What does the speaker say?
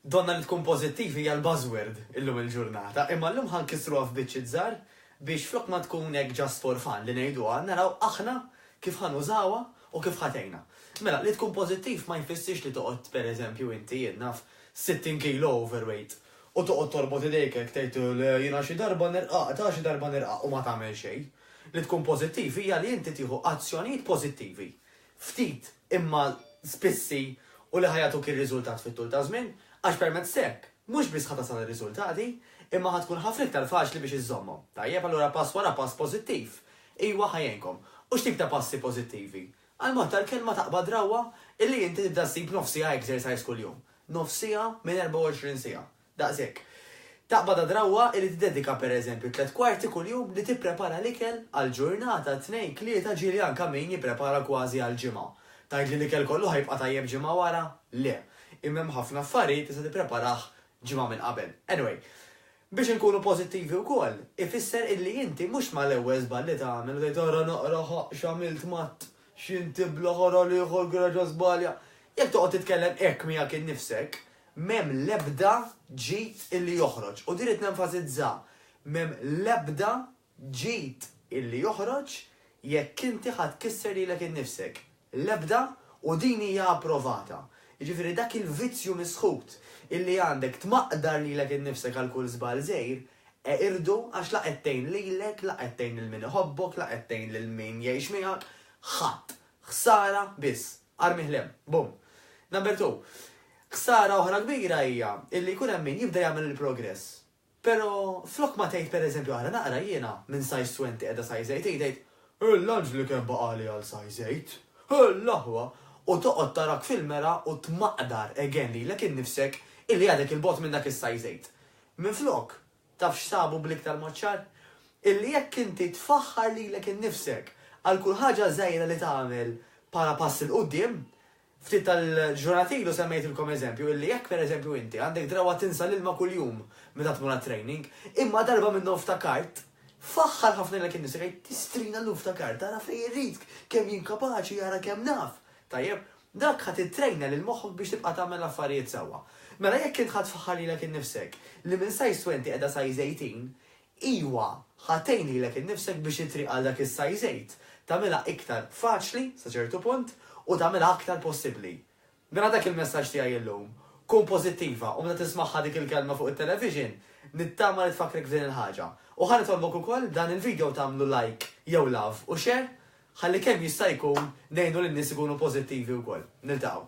Donnha li tkun pożittiv hija l-buzzword illum il-ġurnata, imma llum ħa nkissruha f'biċċiet żgħar biex flok ma tkun hekk just for fun li ngħiduha, naraw aħna kif ħa nużawha u kif ħa tgħinna. Mela, li tkun pożittiv ma jfissirx li toqgħod pereżempju inti, jien naf, 60 kilo overweight u toqgħod torbot idejk hekk tgħid, le, jiena xi darba nirqaq, ta' xi darba nirqaq u ma tagħmel xejn. Li tkun pożittiv hija li inti tieħu azzjonijiet pożittivi ftit imma spissi u li ħa jagħtuk ir-riżultat fit-tul taż-żmien, għax permezz hekk, mhux biss ħa tasal għar-riżultati, imma ħa tkun ħafna iktar faċli biex iżżommhom. Tajjeb, allura pass wara pass pożittiv, ijwa ħa jgħinkom. U x'tip ta' passi pożittivi? Għall-mod tal-kelma taqbad rawwa illi inti tibda ssib nofs siegħa exercise kuljum. Nofs siegħa minn 24 siegħa. Daqshekk. Taqbad għad-drawwa li tiddedika pereżempju tliet kwarti kuljum li tipprepara l-ikel għal ġurnata, tnejn, tlieta, ġieli anke min jipprepara kważi għal ġimgħa. Tgħid li l-ikel kollu ħa jibqa' tajjeb ġimgħa wara? Le. Imma hemm ħafna affarijiet tista' tippreparah ġimgħa minn qabel. Anyway, biex inkunu pożittivi wkoll, ifisser illi inti mhux mal-ewwel żball li tagħmel u tgħid ara naqra ħa x'għamilt Matt, x'intibla, ara l-ieħor gra ġa żbalja. Jekk toqgħod titkellem hekk miegħek innifsek, M'hemm l-ebda ġid illi joħroġ, u din rid nenfasizza, m'hemm l-ebda ġid illi joħroġ jekk inti ħa tkisser lilek innifsek. L-ebda, u din hija approvata. Jiġifieri dak il-vizzju misħut illi għandek tmaqdar lilek innifsek għal kull żball żgħir, eqirdu għax la qed tgħin lilek, la qed tgħin lil min iħobbok, la qed tgħin lil min jgħix miegħek, ħadd. Ħsara biss. Armih 'l hemm. Bum. Number two, ħsara oħra kbira hija illi jkun hemm min jibda jagħmel il-progress, pero flok ma tgħid per eżempju ara naqra jiena minn size twenty qiegħda size eight hi tgħid, Hu l-anġlu kemm baqagħli għal size eight! Hu l-aħwa! U toqgħod tarak fil-mera u tmaqdar again lilek innifsek illi għadek 'il bogħod minn dak is-size eight. Minflok, Taf x'sabu bl-iktar mod ċar? Illi jekk inti tfaħħar lilek innifsek għal kull ħaġa żgħira li tagħmel bħala pass 'il quddiem, ftit tal-ġurnati ilu semmejtilkom eżempju illi jekk pereżempju inti għandek drawwa tinsa l-ilma kuljum meta tmur għat-training, imma darba minnhom ftakart, faħħar ħafna lilek innifsek, għid, Tistrina llum ftakart, ara fejn irridk, kemm jien kapaċi, ara kemm naf! Tajjeb? Dak ħa tittrejna lil moħħok biex tibqa' tagħmel l-affarijiet sewwa. Mela jekk int ħa tfaħħar lilek innifsek li minn size twenty qiegħda size eighteen, iwa, ħa tgħin lilek innifsek biex it-triq għal dak is-size eight tagħmilha iktar faċli, sa ċertu punt, u tagħmilha aktar possibbli. Mela dak il-messaġġ tiegħi llum. Kun pożittiva u meta tismagħha dik il-kelma fuq it-television, nittama li tfakkrek f'din il-ħaġa. U ħa nitolbok ukoll dan il-video tagħmlu like jew love u share Ħalli kemm jista' jkun ngħinu lin-nies ikunu pożittivi wkoll. Niltaqgħu.